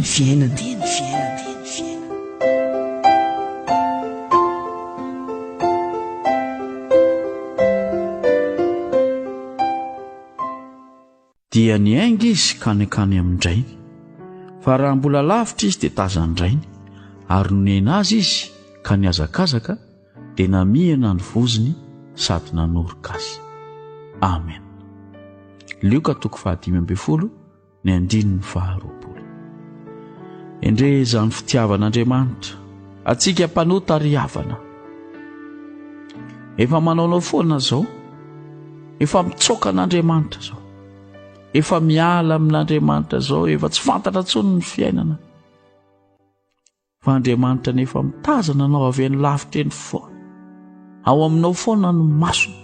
ny fiainana dia ny fiainana dia ny ainga izy kanekany amin-drainy fa raha mbola lavitra izy dia tazan-drainy ary nonena azy izy ka ny azakazaka dia namihana ny voziny sady nanoroka azy amen lioka toko fahadimy ambey folo ny andininy faharoapolo endrey izany fitiavan'andriamanitra atsika mpanota ary havana efa manaonao foana zao efa mitsoka an'andriamanitra zao efa miala amin'andriamanitra zao efa tsy fantatra tsony ny fiainana Fa Andriamanitra anefa mitazana anao avy any lavitra eny foana. Ao aminao foana ny masony.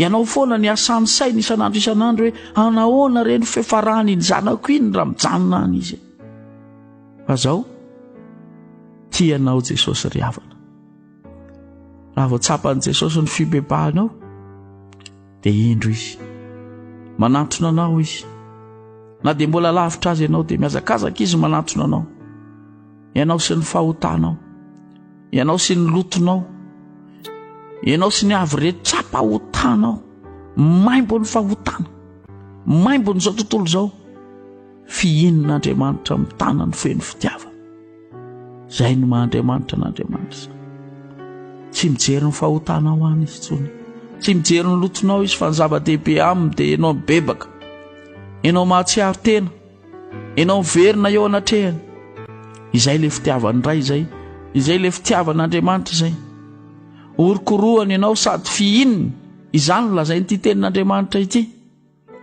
Ianao foana ny asany sainy isan'andro isan'andro hoe anahoana ireny fefarany iny zanako iny raha mijanona any izy. Fa zao, tianao Jesosy ry havana. Raha vao tsapan'i Jesosy ny fibebahanao, dia indro izy. Manantona anao izy. Na dia mbola lavitra azy ianao, dia mihazakazaka izy manantona anao. Ianao sy ny fahotanao, ianao sy ny lotonao, ianao sy ny avy rehetra tsapahotanao, maimbo ny fahotana, maimbo n'izao tontolo izao, fihinan'Andriamanitra amin'ny tanany feno fitiavana. Izay no maha Andriamanitra an'Andriamanitra izany. Tsy mijery ny fahotanao any izy tsony. Tsy mijery ny lotonao izy fa ny zava-dehibe aminy dia ianao mibebaka. Ianao mahatsiaro tena. Ianao miverina eo anatrehany. Izay ilay fitiavan'ny Ray izay. Izay ilay fitiavan'Andriamanitra izay. Orokorohany ianao sady fihininy. Izany lazain'ity tenin'Andriamanitra ity.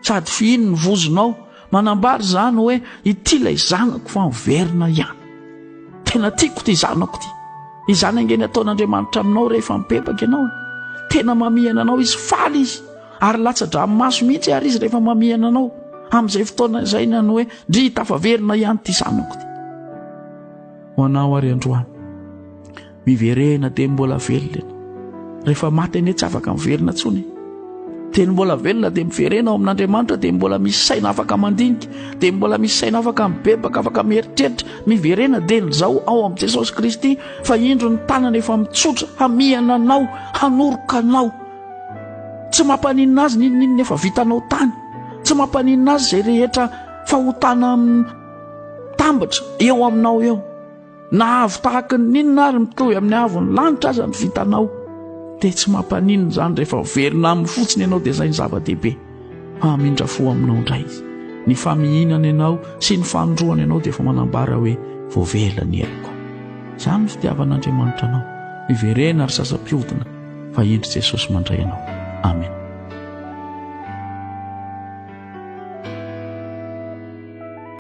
Sady fihiny ny vozonao. Manambara izany hoe ity ilay zanako fa miverina ihany. Tena tiako ity zanako ity. Izany ange ny ataon'Andriamanitra aminao rehefa mibebaka ianao. Tena mamihana anao izy, faly izy ary latsa-dranomaso mihitsy ary izy rehefa mamihana anao. Amin'izay fotoana izay na ny hoe ndry tafaverina ihany ity zanako ity. Ho anao ary androany. Miverena dia mbola velona ianao. Rehefa maty anie tsy afaka miverina intsony. Dia ny mbola velona dia miverena ao amin'Andriamanitra dia mbola misy saina afaka mandinika, dia mbola misy saina afaka mibebaka, afaka mieritreritra. Miverena dia ny zao ao amin'i Jesosy Kristy fa indro ny tanana efa mitsotra hamihana anao, hanoroka anao. Tsy mampaninona azy n'inon'inona efa vitanao tany. Tsy mampaninona azy izay rehetra fahotana tambatra eo aminao eo. Na avo tahaka ny inona ary mitohy amin'ny avon'ny lanitra aza ny vitanao dia tsy mampaninona izany rehefa velona aminy fotsiny ianao dia izay ny zava-dehibe. Hamindra fo aminao indray izy. Ny famihinana ianao sy ny fanindroany ianao dia efa manambara hoe voavela ny heloko. Izany ny fitiavan'Andriamanitra anao. Miverena ary sasa-pihodina fa hendry Jesosy mandray anao. Amen.